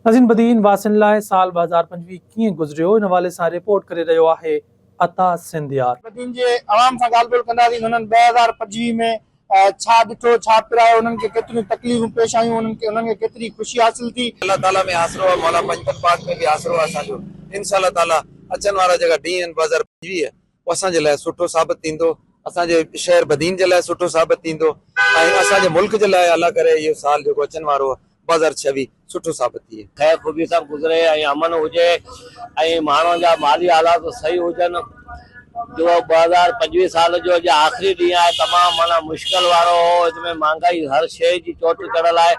عظيم بدين واسين لاء سال ٻه هزار پنجويهه ڪيئن گذريو ان حوالي سان رپورٽ ڪري رهيو آهي عطا سنڌيار. بدين جي عوام سان ڳالهه ٻولهه ڪنداسين ته هنن ٻه هزار پنجويهه ۾ ڇا ڏٺو ڇا پرايو انهن کي ڪيتريون تڪليفون پيش آيون انهن کي انهن کي ڪيتري خوشي حاصل ٿي. الله تعالي ۾ آسرو آ مولا پنجتن پاڪ ۾ به آسرو آ اسان جو انشاء الله تعالي اچن وارا جيڪا ڏينهن آهن ٻه هزار پنجويهه اهو اسان جي لاء سٺو ثابت ٿيندو، اسان جي شهر بدين جي لاء سٺو ثابت ٿيندو ۽ اسان جي ملڪ جي لاء الله ڪري اهو سال جيڪو اچڻ وارو آهي ٻه هزار ڇويهه سٺو ثابت ٿئي. خير خوبي سان گذري ۽ امن هجي ۽ ماڻهن جا مالي حالات صحيح هجن جو ٻه هزار پنجويهه سال جو اڄ آخري ڏينهن آهي تمام معنيٰ مشڪل وارو هو ان ۾ مهانگائي هر شيء جي چوٽ چڙهيل آهي.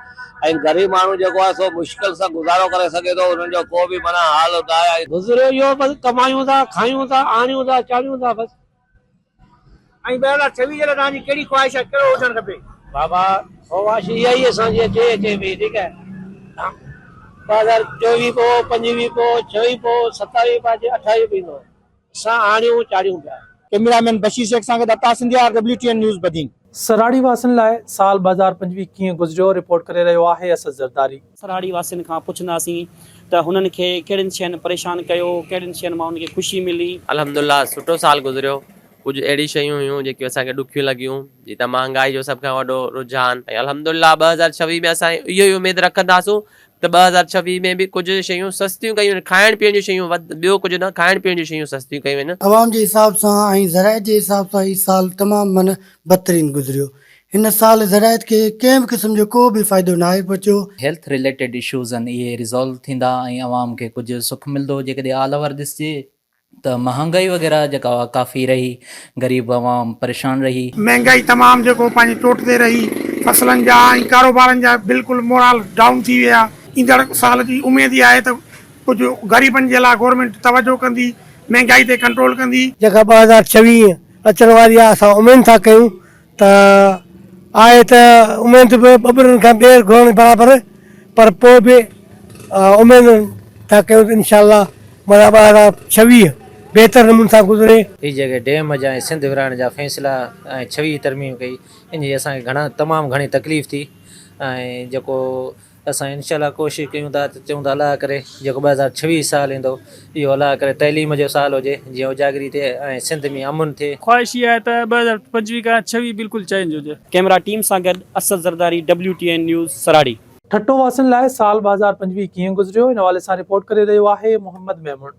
۽ غريب ماڻهو جيڪو آهي سو مشڪل سان گذارو ڪري سگهي ٿو انهن جو ڪو به معنيٰ حال نه آهي ۽ گذريو اهو بس ڪمايون ٿا کايون ٿا آڻيون ٿا چاڙهيون ٿا بس. ۽ بهرحال ڇوي جي لاء توهان جي ڪهڙي خواهش آهي ڪهڙو هجڻ کپي؟ بابا خواهش اها ئي اسان جي اچي اچي پئي ٺيڪ آهي ٻه هزار چوويهه پوء پنجويهه پوء ڇويهه پوء ستاويهه پوء اڄ اٺاويهه بيهندو آهي. سان آڻيون چاڙهيون پيا. ڪئميرا مين بشير شيخ سان گڏ عطاء سنڌيا، W T N news Badin. سراڙي واسين لاء سال ٻه هزار پنجويهه ڪيئن گذريو رپورٽ ڪري رهيو آهي اسد زرداري. سراڙي واسين کان پڇنداسين ته هنن کي ڪهڙين شين پريشان ڪيو ڪهڙين شين مان هنن کي خوشي ملي. الحمدالله سٺو سال گذريو ڪجهه اهڙيون شيون هيون جيڪيون اسان کي ڏکيون لڳيون جيئن ته مهانگائي جو سڀ کان وڏو رجحان ۽ الحمدالله ٻه هزار ڇويهه ۾ اسان اهو ئي اميد رکنداسون ته ٻه هزار ڇويهه ۾ به ڪجهه شيون سستيون ڪيون آهن، کائڻ پيئڻ جون شيون وڌ، ٻيو ڪجهه نه، کائڻ پيئڻ جون شيون سستيون ڪيون آهن. عوام جي حساب سان ۽ زراعت جي حساب سان هي سال تمام من بدترين گذريو، هن سال زراعت کي ڪنهن به قسم جو ڪو به فائدو ناهي پهچيو، هيلٿ رليٽيڊ اشوز آهن اهي ريزالو ٿيندا ۽ عوام کي ڪجهه سک ملدو، جيڪڏهن آل اوور ڏسجي ته مهانگائي وغيره جيڪا اها ڪافي رهي غريب عوام پريشان رهي. مهنگائي تمام جيڪو پنهنجي چوٽ تي رهي فصلن جا ۽ ڪاروبارن جا بلڪل مورال ڊائون ٿي ويا. ايندڙ سال جي اميد اها آهي ته ڪجهه غريبن جي لاء گورنمينٽ توجهه ڪندي مهنگائي تي ڪنٽرول ڪندي. جيڪا ٻه هزار چويهه اچڻ واري آهي اسان اميد ٿا ڪيون ته آهي ته اميد به ٻٻرن کان ٻير گهرڻ برابر پر پوء به اميد ٿا ڪيون ته انشاء الله مانا ٻه هزار ڇويهه بهتر نموني سان گذري. هي جيڪي ڊيم جا ۽ سنڌ ورهائڻ جا فيصلا ۽ ڇويهه ترميم ڪئي ان جي اسان کي گهڻا تمام گهڻي تڪليف ٿي ۽ جيڪو اسان انشاء الله ڪوشش ڪيون ٿا ته چئون ٿا الله ڪري جيڪو ٻه هزار ڇويهه سال ايندو اهو الله ڪري تعليم جو سال هجي جيئن اجاگري ٿئي ۽ سنڌ ۾ امن ٿئي. خواهش اها آهي ته ٻه هزار پنجويهه کان ڇويهه بلڪل چينج هجي. ڪئميرا ٽيم سان گڏ Asad Zardari W T N news سراڙي. ٺٽو واسين لاء سال ٻه هزار پنجويهه ڪيئن گذريو ان حوالي سان رپورٽ ڪري رهيو آهي محمد ميمڻ.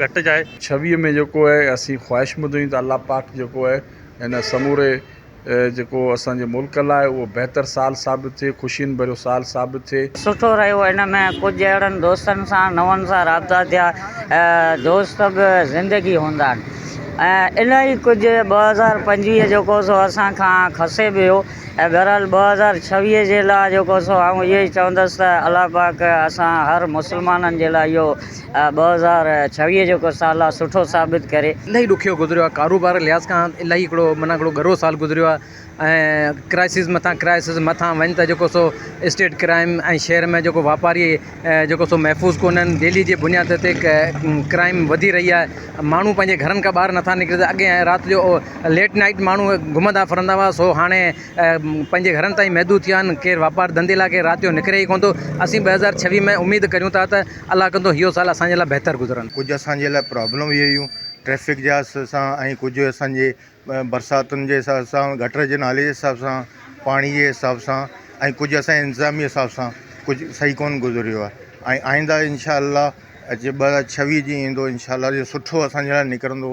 گهٽجائي. ڇويهه ۾ جيڪو اهي اسين خواهش ٻڌون ٿي ته الله پاڪ جيڪو اهي هن سموري جيڪو اسان جي ملڪ لاء اهو بهتر سال ثابت ٿئي خوشين ڀريو سال ثابت ٿئي. سٺو رهيو ان ۾ ڪجهه اهڙن دوستن سان نون سان رابطا ٿيا دوست به زندگي هوندا آهن ۽ الائي ڪجهه ٻه هزار پنجويهه جيڪو سو اسان کان کسي به ويو ۽ بهرحال ٻه هزار ڇويهه جي لاء جيڪو سو آئون اهو ئي چوندس ته الله پاڪ اسان هر مسلمانن جي لاء اهو ٻه هزار ڇويهه جو ڪو سال آ سٺو ثابت ڪري. الاهي ڏکيو گذريو آ ڪاروبار جي لحاظ کان الاهي هڪڙو معنيٰ هڪڙو ڳرو سال گذريو آ ۽ ڪرائسز مٿان ڪرائسز مٿان وڃ ته جيڪو سو اسٽيٽ ڪرائم ۽ شهر ۾ جيڪو واپاري جيڪو سو محفوظ ڪونهن ڊيلي جي بنياد تي ڪرائم وڌي رهي آ ماڻهو پنهنجي گهرن کان ٻاهر نٿا نڪرن ته اڳي رات جو ليٽ نائيٽ ماڻهو گهمندا ڦرندا هئا سو هاڻي پنهنجي گهرن تائين محدود ٿي ويا آهن ڪير واپار ڌنڌي لاء ڪير رات جو نڪري ئي ڪونه ٿو اسين ٻه هزار ڇويهه ۾ اميد ڪريون ٿا ته الله ڪندو اهو سال اسان جي لاء بهتر گذرن. ڪجهه اسان جي لاء پرابلم به هيون ٽريفڪ جا سان ۽ ڪجهه اسان جي برساتن جي حساب سان گٽر جي نالي جي حساب سان پاڻي جي حساب سان ۽ ڪجهه اسان جي انتظامي حساب سان ڪجهه صحيح ڪون گذريو آهي ۽ آئنده انشاء الله جي ٻه هزار ڇويهه جي ايندو انشاء الله جي سٺو اسان جي لاء نڪرندو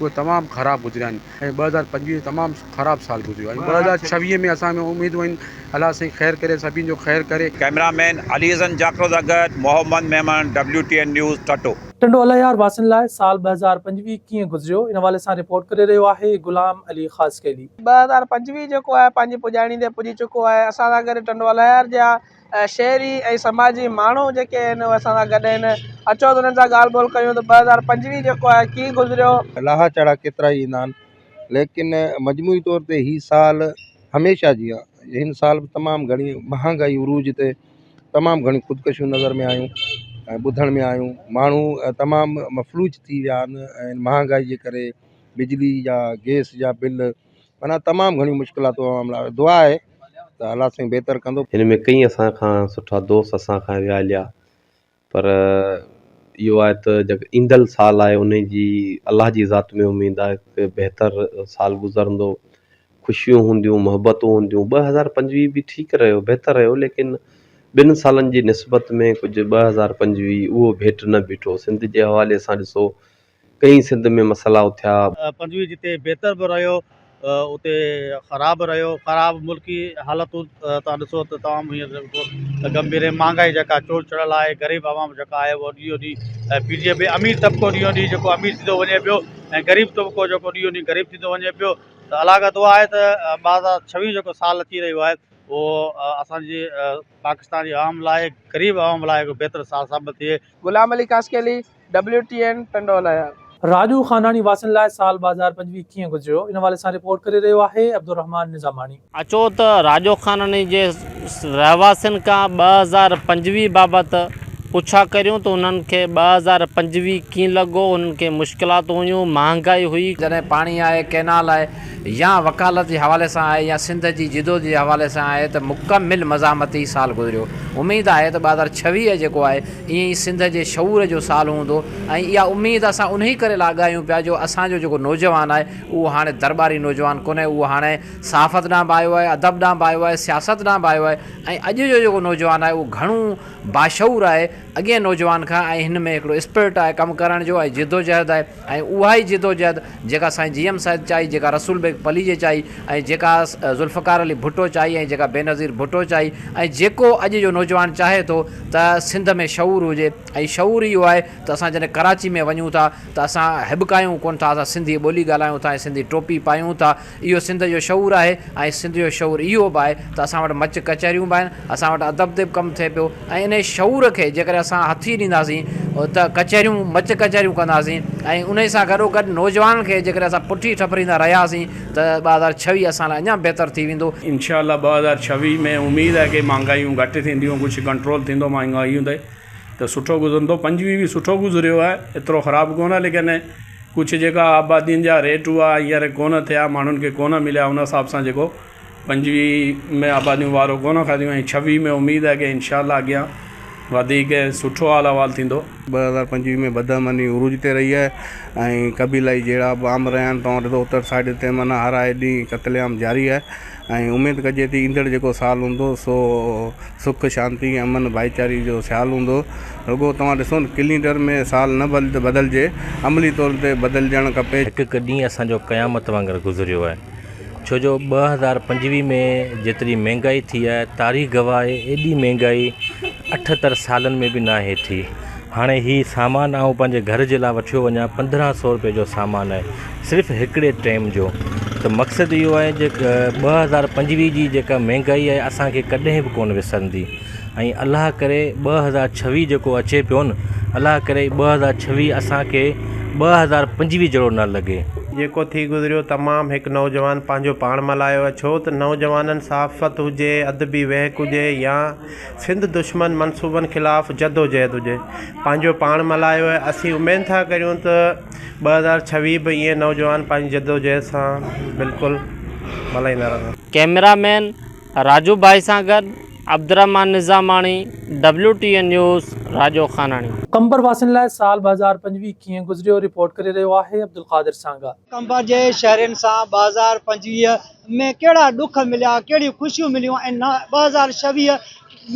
اهي تمام خراب گذريا آهن ۽ ٻه هزار پنجويهه تمام خراب سال گذريو آهي ۽ ٻه هزار ڇويهه ۾ اسان ۾ اميدون آهن الله سائين خير ڪري سڀين جو خير ڪري. ڪئميرا مين علي حسن جاکرو سان گڏ Muhammad Memon W T N news Thatta. Tando Allahyar واسين لاء سال ٻه هزار پنجويهه ڪيئن گذريو ان حوالي سان رپورٽ ڪري رهيو آهي غلام علي خاصخيلي. ٻه هزار پنجويهه جيڪو آهي پنهنجي پڄاڻي تي پڄي چڪو آهي اسان سان گڏ ٽنڊو الهيار جا شهري ۽ سماجي ماڻهو جيڪي آهن اهي اسان سان گڏ آهن اچو ته انهن سان ڳالهه ٻولهه ڪيون ته ٻه هزار پنجويهه جيڪو آهي ڪيئن گذريو لاها چاڙها ڪيترا ئي ايندا آهن ليڪن مجموعي طور تي هي سال هميشه جيان هن سال به تمام گهڻي مهانگائي عروج تي تمام گهڻي خودڪشيون نظر ۾ آيون ۽ ٻڌڻ ۾ آيون ماڻهو تمام مفلوج ٿي ويا آهن ۽ مهانگائي جي ڪري بجلي جا گئس جا بل معنيٰ تمام گهڻيون مشڪلاتون عوام لاء دعا آهي ته الله سائين بهتر ڪندو. هن ۾ ڪئين اسان کان سٺا دوست اسان کان ويا هليا پر اهو آهي ته جيڪو ايندل سال آهي انهي جي الله جي ذات ۾ اميد آهي ڪي بهتر سال گذرندو خوشيون هونديون محبتون هونديون ٻه هزار پنجويهه به ٺيڪ رهيو بهتر رهيو ليڪن ٻن سالن جي نسبت ۾ ڪجهه ٻه هزار پنجويهه اهو ڀيٽ نه بيٺو سنڌ جي حوالي سان ڏسو ڪئين سنڌ ۾ مسئلا اٿيا. پنجويهه جتي بهتر به رهيو اتي خراب به رهيو خراب ملڪي حالتون تان ڏسو ته تمام هينئر گنڀير ۽ مهانگائي جيڪا چوڙ چڙهيل آهي غريب عوام جيڪا آهي اهو ڏينهون ڏينهن پيڙهجي پئي امير طبقو ڏينهون ڏينهن جيڪو امير ٿيندو وڃي پيو ۽ غريب طبقو جيڪو ڏينهون ڏينهن غريب ٿيندو وڃي پيو ته الاڳت اها آهي ته ٻه هزار ڇويهه جيڪو سال اچي رهيو آهي اهو اسان جي پاڪستان جي عوام لاء غريب عوام لاء هڪ بهتر سال ثابت ٿئي. غلام علي ڪاسڪيلي ڊبليو ٽي اين ٽنڊو هلايا. راڄو خانداڻي واسين لاء سال ٻه هزار پنجويهه ڪيئن گذريو ان حوالي سان رپورٽ ڪري رهيو آهي عبدالرحمان نظاماڻي. اچو ته راڄو خانداڻي جي رهواسين کان ٻه هزار پنجويهه بابت پڇا ڪريون ته انهن کي ٻه هزار پنجويهه ڪيئن لڳو، انهن کي مشڪلاتون هيون، مهانگائي هئي، جڏهن پاڻي آهي، ڪئنال آهي يا وڪالت جي حوالي سان آهي يا سنڌ جي جدوجهد جي حوالي سان آهي ته مڪمل مزاحمتي سال گذريو، اميد آهي ته ٻه هزار ڇويهه جيڪو آهي ايئن ئي سنڌ جي شعور جو سال هوندو ۽ اها اميد اسان انهي ڪري لاڳايون پيا جو اسان جو جيڪو نوجوان آهي اهو هاڻي درٻاري نوجوان ڪونهي اهو هاڻي صحافت ڏانهن به آيو آهي ادب ڏانهن به آيو آهي سياست ڏانهن به آيو آهي ۽ اڄ جو جيڪو نوجوان آهي اهو گهڻو باشعور آهي اڳئين نوجوان کان ۽ هن ۾ هڪڙو اسپرٽ آهي ڪم ڪرڻ جو ۽ جدوجهد آهي ۽ اها ئي جدوجهد جيڪا سائين جي ايم سيد چائي، جيڪا رسول بيگ پليجي چائي ۽ جيڪا ذوالفقار علي ڀٽو چائي ۽ جيڪا بينظير ڀٽو چائي ۽ جيڪو اڄ جو نوجوان چاهي ٿو ته سنڌ ۾ شعور هجي ۽ شعور اهو آهي ته اسان جڏهن ڪراچي ۾ وڃون ٿا ته اسان هٻڪايون ڪونه ٿا، اسان سنڌي ٻولي ڳالهايون ٿا ۽ سنڌي ٽوپي پايون ٿا. اهو سنڌ جو شعور آهي ۽ سنڌ جو شعور اهو به آهي ته اسان وٽ مچ ڪچهريون به آهن، اسان وٽ ادب تي به ڪم ٿئي پيو ۽ انهي شعور کي جيڪڏهن اسان هٿي ڏينداسين ته ڪچهريون مچ ڪچهريون ڪنداسين ۽ انهي سان گڏو گڏ نوجوانن کي جيڪڏهن اسان پٺي ٺپريندا رهياسين ته ٻه هزار ڇويهه اسان لاء اڃا بهتر ٿي ويندو. انشاء الله ٻه هزار ڇويهه ۾ اميد آهي ڪي مهانگايون گهٽ ٿينديون ڪجهه ڪنٽرول ٿيندو مهانگايون تي. ته سٺو گذرندو پنجويهه به سٺو گذريو آهي ايترو خراب ڪونه ليڪن ڪجهه جيڪا آبادين جا ريٽ هئا هينئر ڪونه ٿيا ماڻهن کي ڪونه مليا ان حساب سان جيڪو پنجويهه ۾ آباديون وارو ڪونه کاڌيون ۽ ڇويهه ۾ اميد آهي ڪي انشاء الله اڳيان وڌيڪ سٺو حال احوال ٿيندو. ٻه هزار پنجويهه ۾ بدر مني عروج تي رهي آهي ۽ قبيلائي جهيڙا به عام رهيا آهن توهان ڏسو اتر سائيڊ تي معنيٰ هر آئي ڏينهن قتل عام جاري آهي. ۽ اميد ڪجي ٿي ايندڙ جيڪو سال هوندو سو سک شانتي امن ڀائيچاري جو سال هوندو رڳو توهان ڏسو نه ڪلينڊر ۾ سال نه بدلجي عملي طور تي بدلجڻ کپي. هڪ هڪ ڏينهن اسان جو قيامت وانگر گذريو آهي ڇو جو ٻه هزار پنجويهه ۾ جيتري مهنگائي ٿي آهي تاريخ گواهه آهي ايڏي مهنگائي اٺهتر سالن ۾ به ناهي ٿي هاڻي هي سامان آئون پنهنجي گهر جي لاء وٺيو وڃان پندرهن سئو روپئي جو سامان آهي صرف هڪڙي ٽيم جو ته مقصد اهو آهي جي ٻه هزار پنجويهه جي جيڪا مهنگائي آهي اسانکي ڪڏهن به ڪون وسرندي ۽ الله ڪري ٻه هزار ڇويهه جيڪو اچي پيو نه الله ڪري ٻه هزار ڇويهه اسانکي ٻه هزار پنجويهه جهڙو نه لڳي. جيڪو ٿي گذريو تمام هڪ نوجوان پنهنجو پاڻ ملهايو ڇو ته نوجوانن صحافت هجي ادبي وهڪ هجي يا سنڌ دشمن منصوبن خلاف جدوجهد هجي پنهنجو پاڻ ملهايو آهي اسين اميد ٿا ڪريون ته ٻه هزار ڇويهه به ائين نوجوان پنهنجي جدوجهد سان بلڪل ملهائيندا رهن. ڪئميرا مين راجو ڀائي سان گڏ Abdulrahman Nizamani, W T N news, Rajo Khanani. Qambar واسين لاء سال ٻه هزار پنجويهه ڪيئن گذريو رپورٽ ڪري رهيو آهي عبدالقادر سانگا. قمبر جي شهرين سان ٻه هزار پنجويهه ۾ ڪهڙا ڏک مليا، ڪهڙيون خوشيون مليون ۽ ٻه هزار ڇويهه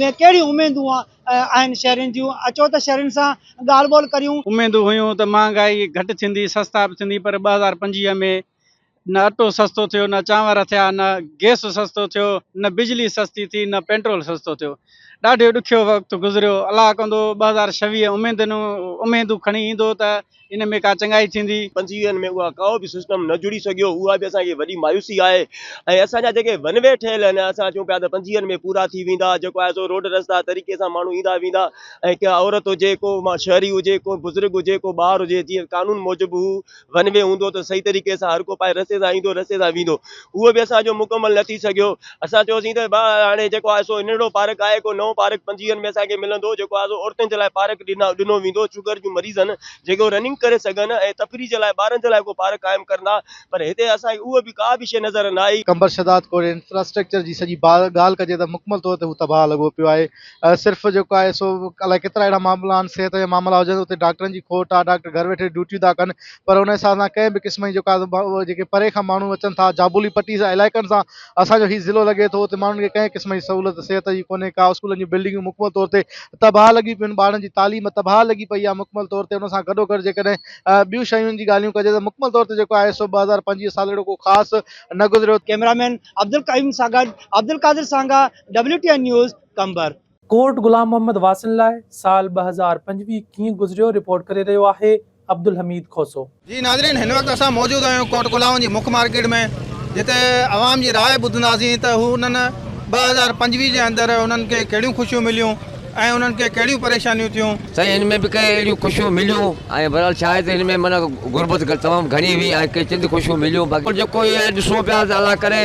۾ ڪهڙيون اميدون آهن شهرين جون، اچو ته شهرين سان ڳالهه ٻولهه ڪريون. اميدون هيون ته مهانگائي گهٽ ٿيندي، سستا به ٿيندي پر ٻه هزار پنجويهه ۾ نه اٽو سستو ٿيو، نه چانور ٿيا، نه گئس سستو ٿيو، نه بجلي سستي ٿي، نه پيٽرول سستو ٿيو. ڏاڍيو ڏکيو وقت گذريو. الله ڪندو ٻه هزار ڇويهه اميدون کڻي ايندو ته ان ۾ ڪا چڱائي ٿيندي. پنجويهن ۾ اها ڪا به سسٽم نه جڙي سگهيو اها به اسان کي وڏي مايوسي آهي ۽ اسان جا جيڪي ون وي ٺهيل آهن اسان چون پيا ته پنجويهن ۾ پورا ٿي ويندا جيڪو آهي سو روڊ رستا طريقي سان ماڻهو ايندا ويندا ۽ ڪا عورت هجي ڪو شهري هجي ڪو بزرگ هجي ڪو ٻار هجي جيئن قانون موجب هو ون وي هوندو ته صحيح طريقي سان هر ڪو پنهنجي رستي سان ايندو رستي سان ويندو اهو به اسان جو مڪمل نه ٿي سگهيو. اسان چيوسين ته ڀاء هاڻي جيڪو آهي سو ننڍڙو پارڪ آهي، ڪو نئون پارڪ پنجويهن ۾ اسان کي ملندو جيڪو آهي سو عورتن جي لاء پارڪ ڏنو ويندو، شگر جون مريضن جيڪي هو رننگ ڪري سگهن ۽ تفريح جي لاء ٻارن جي لاء ڪو پارڪ قائم ڪرندا پر هتي اسان کي اهو به ڪا به شيء نظر نه آئي. قمبر شهداد ڪوري انفراسٽرڪچر جي سڄي ڳالهه ڪجي ته مڪمل طور تي هو تباهه لڳو پيو آهي صرف جيڪو آهي سو الائي ڪيترا اهڙا معاملا آهن صحت جا معاملا هجن اتي ڊاڪٽرن جي کوٽ آهي ڊاڪٽر گهر ويٺي ڊيوٽيون ٿا ڪن پر ان حساب سان ڪنهن به قسم جي جيڪا جيڪي پري کان ماڻهو اچن ٿا جابولي پٽي سان علائقن سان اسان جو هي ضلعو لڳي ٿو اتي ماڻهن کي ڪنهن قسم جي سهولت صحت جي ڪونهي ڪا اسڪولن جون بلڊنگون مڪمل طور تي تباهه لڳي پيون ٻارن جي تعليم تباهه لڳي پئي آهي مڪمل طور تي ان سان گڏو گڏ جيڪڏهن ٻيون شيون جي ڳالهيون ڪجي ته مڪمل طور تي جيڪو آهي سو ٻه هزار پنجويهه سال اهڙو ڪو خاص نه گذريو. ڪئميرا مين عبدالقيوم سان گڏ Abdulqadir Sanga WTN news Qambar. Court Ghulam Muhammad واسن لاء سال ٻه هزار پنجويهه ڪيئن گذريو رپورٽ ڪري رهيو آهي عبدالحميد کوسو. جي ناظرين هن وقت اسان موجود آهيون ڪورٽ گلام جي مک مارڪيٽ ۾ جتي عوام جي راء ٻڌنداسين ته هو انهن ٻه هزار پنجويهه جي اندر انهن کي ڪهڙيون خوشيون مليون ۽ انهن کي ڪهڙيون پريشانيون ٿيون. سائين هن ۾ به ڪي اهڙيون خوشيون مليون ۽ بهرحال ڇا آهي ته هن ۾ معنيٰ غربت تمام گهڻي هئي ۽ ڪي چند خوشيون مليون باقي جيڪو هي آهي ڏسون پيا ته الله ڪري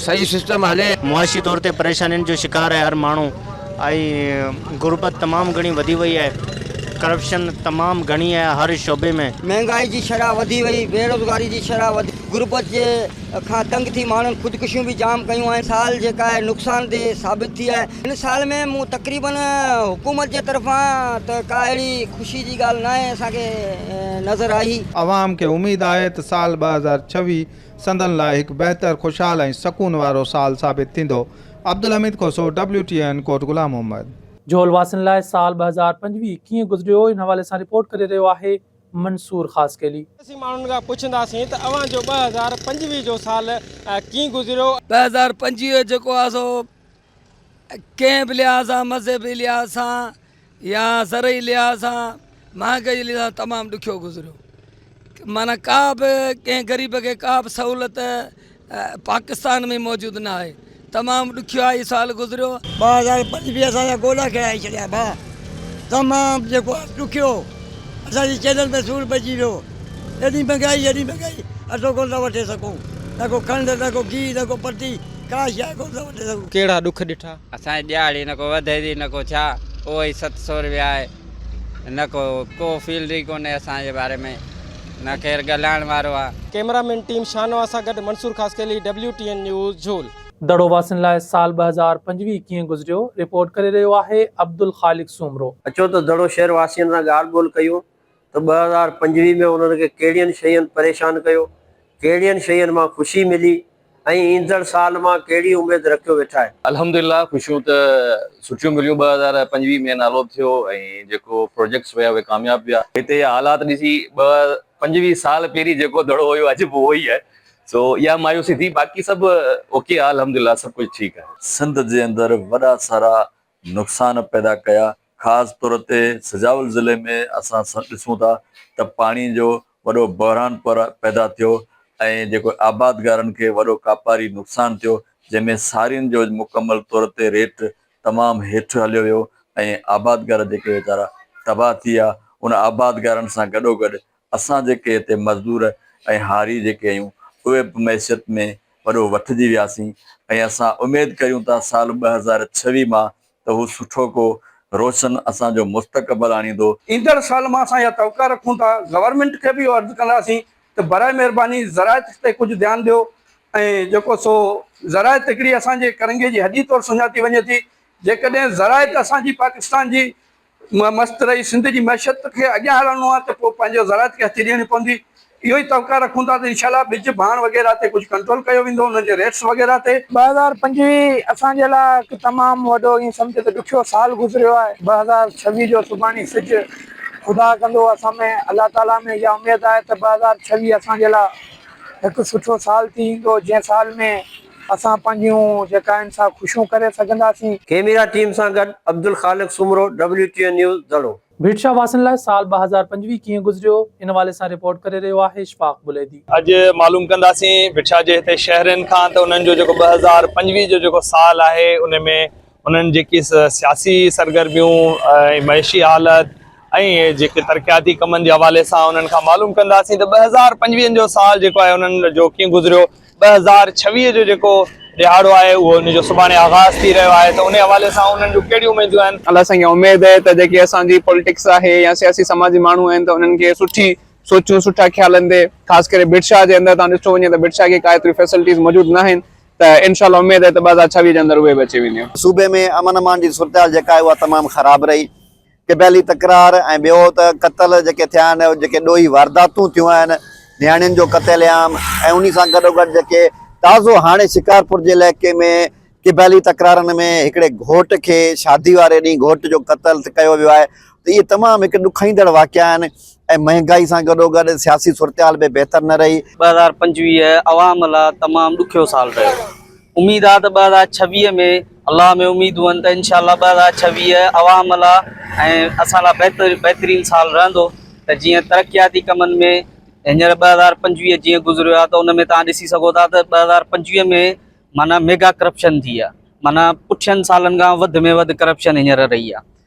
صحيح سسٽم هلي. معاشي طور تي پريشانين جو شڪار آهي هر ماڻهو ۽ غربت تمام گهڻي وڌي وئي آهي ڪرپشن تمام گهڻي آهي هر شعبي ۾. مهانگائي جي شرح وڌي وئي بيروزگاري جي شرح وڌي غربت جي. کان تنگ ٿي ماڻهن خودڪشيون به جام ڪيون آهن سال جيڪا آهي نقصانديهه ثابت ٿي آهي هن سال ۾ مون تقريبن حڪومت جي طرفان ته ڪا اهڙي خوشي جي ڳالهه ناهي اسان کي نظر آئي. عوام کي اميد آهي ته سال ٻه هزار ڇويهه سندن لاء هڪ بهتر خوشحال ۽ سڪون وارو سال ثابت ٿيندو Abdulhamid Khoso, W T N Kot Ghulam Muhammad. Jhol واسين لاء سال ٻه هزار پنجويهه ڪيئن گذريو ان حوالي سان رپورٽ ڪري رهيو آهي منصور خاصخيلي. اسين ماڻهن کان پڇنداسين ته اوهان جو ٻه هزار پنجويهه جو سال ڪيئن گذريو؟ ٻه هزار پنجويهه جيڪو آهي سو ڪنهن به لحاظ سان مذهبي لحاظ سان يا زرعي لحاظ سان مهانگائي لحاظ سان تمام ڏکيو گذريو معنيٰ ڪا به ڪنهن غريب کي ڪا به سهولت پاڪستان ۾ موجود نه آهي تمام ڏکيائي سال گذريو. ٻه هزار پنج به اسان جا گوڏا ڪيرائي ڇڏيا ڀاء تمام جيڪو ڏکيو اسان جي چيلهن تي سور پئجي ويو ايڏي مھنگائي ايڏي مھنگائي اٽو ڪونه ٿا وٺي سگھون نه ڪو کنڊ نه ڪو گيھه نه ڪو پٽي ڪا شيء ڪونه ٿا وٺي سگھون. ڪهڙا ڏک ڏٺا؟ اسان جي ڏياڙي نه ڪو وڌي ٿي نه ڪو ڇا اهو ئي ست سو روپيا آهي. نه ڪو ڪو فيلڊ ئي ڪونهي اسان جي باري ۾ نه ڪير ڳالهائڻ وارو آ. ڪئميرا مين ٽيم شاهنواز سان گڏ Mansoor Khaskheli W T N news Jhol. Daro واسين لاء سال ٻه هزار پنجويهه ڪيئن گذريو، رپورٽ ڪري رهيو آهي عبدالخالق سومرو. اچو ته دڙو شهر واسين سان ڳالهه ٻولهه ڪيون ته ٻه هزار پنجويهه ۾ انهن کي ڪهڙين شين پريشان ڪيو، ڪهڙين شين مان خوشي ملي. ۽ ايندڙ سال مان ڪهڙي اميد رکيو ويٺا آهيو؟ الحمدلله خوشيون ته سٺيون مليون ٻه هزار پنجويهه ۾ نالو به ٿيو ۽ جيڪو پروجيڪٽس هيا اهي ڪامياب به آهي هتي جا حالات ڏسي ٻه پنجويهه سال پهرين جيڪو دڙو هيو اڄ به اهو ئي آهي سو اها مايوسي ٿي باقي سڀ اوڪي آهي الحمدلله سڀ ڪجهه ٺيڪ آهي. سنڌ جي اندر وڏا سارا نقصان پيدا ڪيا خاص طور تي سجاول ضلعي ۾ اسان ڏسون ٿا ته پاڻي جو وڏو بحران پيدا ٿيو ۽ جيڪو آبادگارن کي وڏو ڪاپاري نقصان ٿيو جنهن ۾ سارين جو مڪمل طور تي ريٽ تمام هيٺ هليو ويو ۽ آبادگار جيڪي ويچارا تباهه ٿي ويا ان آبادگارن سان گڏوگڏ اسان جيڪي هتي مزدور ۽ هاري جيڪي آهيون اهي به معيشت ۾ وڏو وٺجي وياسين ۽ اسان اميد ڪريون ٿا سال ٻه هزار ڇويهه مان ته هو سٺو ڪو روشن اسان جو مستقبل آڻيندو. ايندڙ سال مان اسان اها توقع رکون ٿا. گورنمينٽ کي به اهو عرض ڪنداسين ته براء مهرباني زراعت تي ڪجهه ڌيان ڏيو ۽ جيڪو سو زراعت هڪڙي اسان جي ڪرنگهي جي هڏي طور سڃاتي وڃي ٿي جيڪڏهن زراعت اسان جي پاڪستان جي مون مست رهي سنڌ جي معيشت کي اڳيان هلڻو آهي ته پوء پنهنجي زراعت کي هٿي ڏيڻي پوندي. اهو ئي توقع رکون ٿا ته انشاء الله ٻج، ڀاڻ وغيره تي ڪجهه ڪنٽرول ڪيو ويندو، انهن جي ريٽس وغيره تي. ٻه هزار پنجويهه اسان جي لاء هڪ تمام وڏو ائين سمجهه ته ڏکيو سال گذريو آهي. ٻه هزار ڇويهه جو سڀاڻي سج خدا ڪندو اسان ۾، الله تعاليٰ ۾ اها اميد آهي ته ٻه هزار ڇويهه اسان جي لاء هڪ سٺو سال ٿي ايندو، جنهن سال ۾. اسان پنهنجيون جيڪا آهن سا خوشيون ڪري سگهنداسين. ڪيميرا ٽيم سان گڏ عبدالخالق سومرو WTN News دڙو. ڀيٽشاهه واسين لاء سال ٻه هزار پنجويهه ڪيئن گذريو ان حوالي سان رپورٽ ڪري رهيو آهي اشفاق بليدي. اڄ معلوم ڪنداسين ڀٽشاهه جي هتي شهرين کان ته انهن جو جيڪو ٻه هزار پنجويهه جو جيڪو سال آهي ان ۾ انهن جيڪي سياسي سرگرميون ۽ معيشي حالت ۽ جيڪي ترقياتي ڪمن جي حوالي سان انهن کان معلوم ڪنداسين ته ٻه هزار پنجويهن جو سال جيڪو آهي انهن جو ڪيئن گذريو ٻه هزار ڇويهه جو جيڪو ڏهاڙو آهي اهو ان جو سڀاڻي آغاز ٿي رهيو آهي ته ان حوالي سان انهن جون ڪهڙيون اميدون آهن. الله سائين کي اميد آهي ته جيڪي اسان جي پولٽڪس آهي يا سياسي سماجي ماڻهو آهن ته انهن کي سٺي سوچون سٺا خيال اندي خاص ڪري بٽ شاهه جي اندر تان ڏٺو وڃي ته بٽ شاهه کي ڪا ايتريون فيسلٽيز موجود ناهن ته انشاء الله اميد آهي ته ٻه هزار ڇويهه جي اندر اهي به اچي وينديون. صوبي ۾ امن امان جي صورتحال جيڪا آهي اها تمام خراب رهي، قبيلي تڪرار ۽ ٻيو ته قتل جيڪي ٿيا آهن، جيڪي ڏوهي وارداتون ٿيون آهن، نياڻين جو قتل عام ۽ انهي سان گڏوگڏ جيڪي تازو هاڻي شڪارپور جي علائقي ۾ قبيلي تڪرارن ۾ هڪڙي گهوٽ کي شادي واري ڏينهن گهوٽ جو قتل ڪيو ويو آهي، ته اهي تمام هڪ ڏکائيندڙ واقعا آهن ۽ مهانگائي سان گڏوگڏ سياسي صورتحال به بهتر نه رهي. ٻه هزار پنجويهه عوام لا تمام ڏکيو سال رهيو. اميد آ ته ٻه هزار ڇويهه ۾ الله ۾ اميدون آهن ته انشاء الله ٻه هزار ڇويهه عوام لا ۽ اسان لا بهتر بهترين سال رهندو ته جيئن ترقياتي ڪمن ۾ هينئر ٻه هزار پنجويهه جيئن گذريو آ ته ان ۾ توهان ڏسي سگهو ٿا ته ٻه هزار پنجويهه ۾ معنيٰ ميگا ڪرپشن ٿي آ معنيٰ پٺين سالن کان وڌ ۾ وڌ ڪرپشن هينئر رهي آ.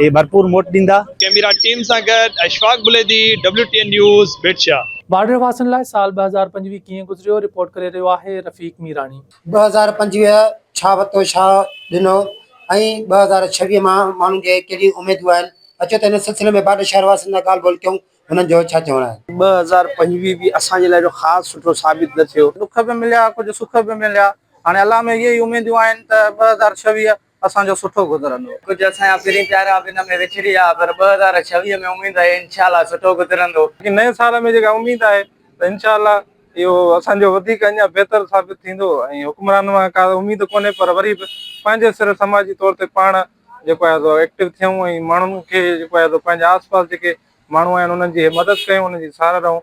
اهي ڀرپور موٽ ڏيندا. ڪيميرا ٽيم سان گڏ Ashfaq Buledi, W T N news, Bhitshah. Border واسين لاء سال ٻه هزار پنجويهه ڪيئن گذريو رپورٽ ڪري رهيو آهي رفيق ميراڻي. ٻه هزار پنجويهه ڇا وتو ڇا ڏنو ۽ ٻه هزار ڇويهه مان ماڻهن کي ڪهڙيون اميدون آهن اچو ته ان سلسلي ۾ بارڊر شهر واسين سان ڳالهه ٻولهه ڪيون هنن جو ڇا چوڻ آهي. ٻه هزار پنجويهه به اسان جي لاء ايڏو خاص سٺو ثابت نه ٿيو. ڏک به مليا ڪجهه سک به مليا هاڻي الله ۾ اهي ئي اميدون آهن ته ٻه هزار ڇويهه اسان جو سٺو گذرندو. ڪجهه اسان جا پھرين پيارا به ان ۾ وڇڙي ويا پر ٻه هزار ڇويهه ۾ اميد آهي انشاء الله سٺو گذرندو. باقي نئين سال ۾ جيڪا اميد آهي ته انشاء الله اهو اسان جو وڌيڪ اڃا بهتر ثابت ٿيندو ۽ حڪمرانن مان ڪا اميد ڪونهي پر وري به پنهنجي سر سماجي طور تي پاڻ جيڪو آهي سو ايڪٽو ٿيون ۽ ماڻهن کي جيڪو آهي سو پنهنجي آس پاس جيڪي ماڻهو آهن انهن جي مدد ڪيون انهن جي ساراهه رهون.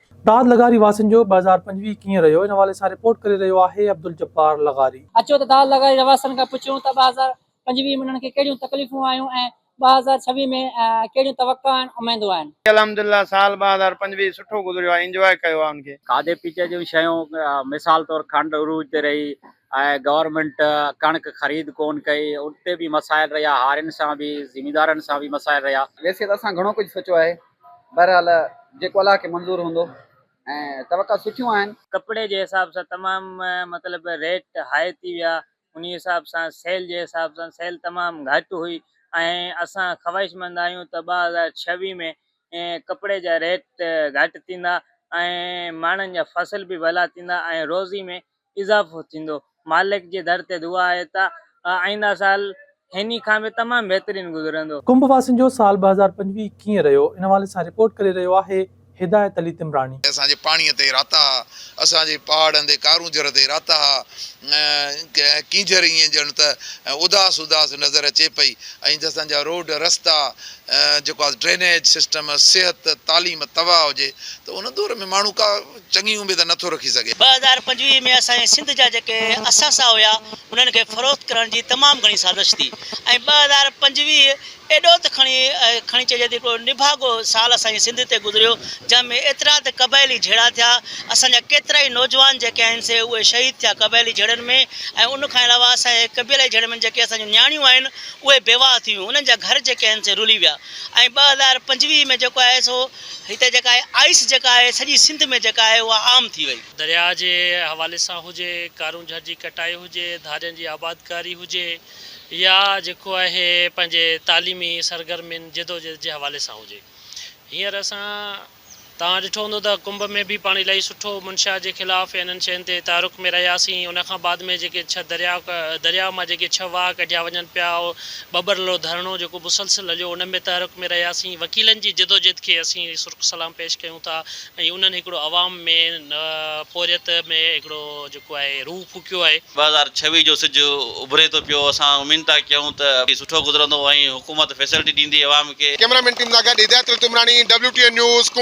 داد لغاري واسين جو ٻه هزار پنجويهه ڪيئن رهيو ان حوالي سان رپورٽ ڪري رهيو آهي عبدالجبار لغاري. اچو ته داد لغاري رهواسين کان پڇيون ته ٻه هزار پنجويهه ۾ انهن کي ڪهڙيون تڪليفون آيون ۽ ٻه هزار ڇويهه ۾ ڪهڙيون توقع آهن اميدون آهن. الحمدلله سال ٻه هزار پنجويهه سٺو گذريو آهي انجواء ڪيو آهي ان کي. کاڌي پيتي جون شيون مثال طور کنڊ عروج تي رهي ۽ گورنمينٽ ڪڻڪ خريد ڪون ڪئي ان تي به مسائل رهيا هارين سان به زميندارن سان به مسائل رهيا. ويسي ته اسان گهڻو ڪجهه سوچيو آهي بهرحال جيڪو الله کي منظور هوندو ۽ توقع سٺيون آهن. ڪپڙي جي حساب سان تمام مطلب ريٽ هائي ٿي ويا انهي حساب سان سيل جي حساب سان سيل تمام گهٽ هئي ۽ اسان خواهش مند آهيون ته ٻه هزار ڇويهه ۾ ڪپڙي جا ريٽ گهٽ ٿيندا ۽ ماڻهن جا فصل به ڀلا ٿيندا ۽ روزي ۾ اضافو ٿيندو مالڪ جي در تي دعا آهي ته آئينده سال هني کان به تمام بهترين گذرندو. ڪنڀ واسين جو سال ٻه هزار پنجويهه ڪيئن رهيو ان حوالي سان رپورٽ ڪري رهيو آهي هدايت علي تمراڻي. اسان جي پاڻيء تي راتا ها، اسان جي پهاڙن تي ڪارونجهر تي راتا ها. ڪينجهر ائين ڄڻ ته اداس اداس نظر اچي پئي ۽ جسان جا روڊ رستا جيڪو آ ڊرينيج سسٽم، صحت، تعليم تباهه هجي ته ان دور ۾ ماڻهو ڪا چڱي اميد نه ٿو رکي سگهي. ٻه هزار پنجويهه ۾ اسان جي سنڌ جا جيڪي اثاثا هيا انهن کي فروخت ڪرڻ جي تمام گهڻي سازش ٿي ۽ ٻه هزار پنجويهه ايڏو ته کڻي کڻي چئجي ته هڪڙو نڀاڳو سال اسان جي سنڌ تي گذريو جنهن ۾ ايترا ته قبائلي جهيڙا ٿيا اسان جا ڪيترا ئي نوجوان جيڪي آهن سي اهي شهيد ٿيا قبائلي جهيڙن ۾ ۽ ان کان علاوه اسان جي قبيلائي جهيڙن ۾ جيڪي اسان جون نياڻيون آهن اهي بيواهه ٿيون انهن جا گهر جيڪي آهن سي رلي ويا ۽ ٻه هزار پنجويهه ۾ جيڪو آهي سو هتي جيڪا آهي آئس جيڪا آهي سڄي سنڌ ۾ جيڪا آهي اها عام ٿي وئي. درياء جي حوالي سان هجي، ڪارون جھر جي ڪٽائي هجي، ڌارين جي آبادڪاري هجي يا جيڪو آهي پنهنجي تعليمي سرگرمين جدوجھد جي حوالي سان هجي. هينئر اسان توهان ڏٺو هوندو ته ڪنڀ ۾ به پاڻ الائي سٺو منشيات جي خلاف يا انهن شين تي تعارڪ ۾ رهياسين ان کان بعد ۾ جيڪي ڇهه درياء درياء مان جيڪي ڇهه واهه ڪڍيا وڃن پيا ٻٻرلو ڌرڻو جيڪو مسلسل هليو ان ۾ تحرڪ ۾ رهياسين وڪيلن جي جدوجهد کي اسين سرخ سلام پيش ڪيون ٿا ۽ انهن هڪڙو عوام ۾ پورهيت ۾ هڪڙو جيڪو آهي روح ڦوڪيو آهي. ٻه هزار ڇويهه جو سج اڀري ٿو پيو اسان امين ٿا ڪيون ته هي سٺو گذرندو ۽ حڪومت فيسلٽي ڏيندي عوام کي. ڪيمرا مين ٽيم سان گڏ هدايت التمراڻي WTN نيوز قم.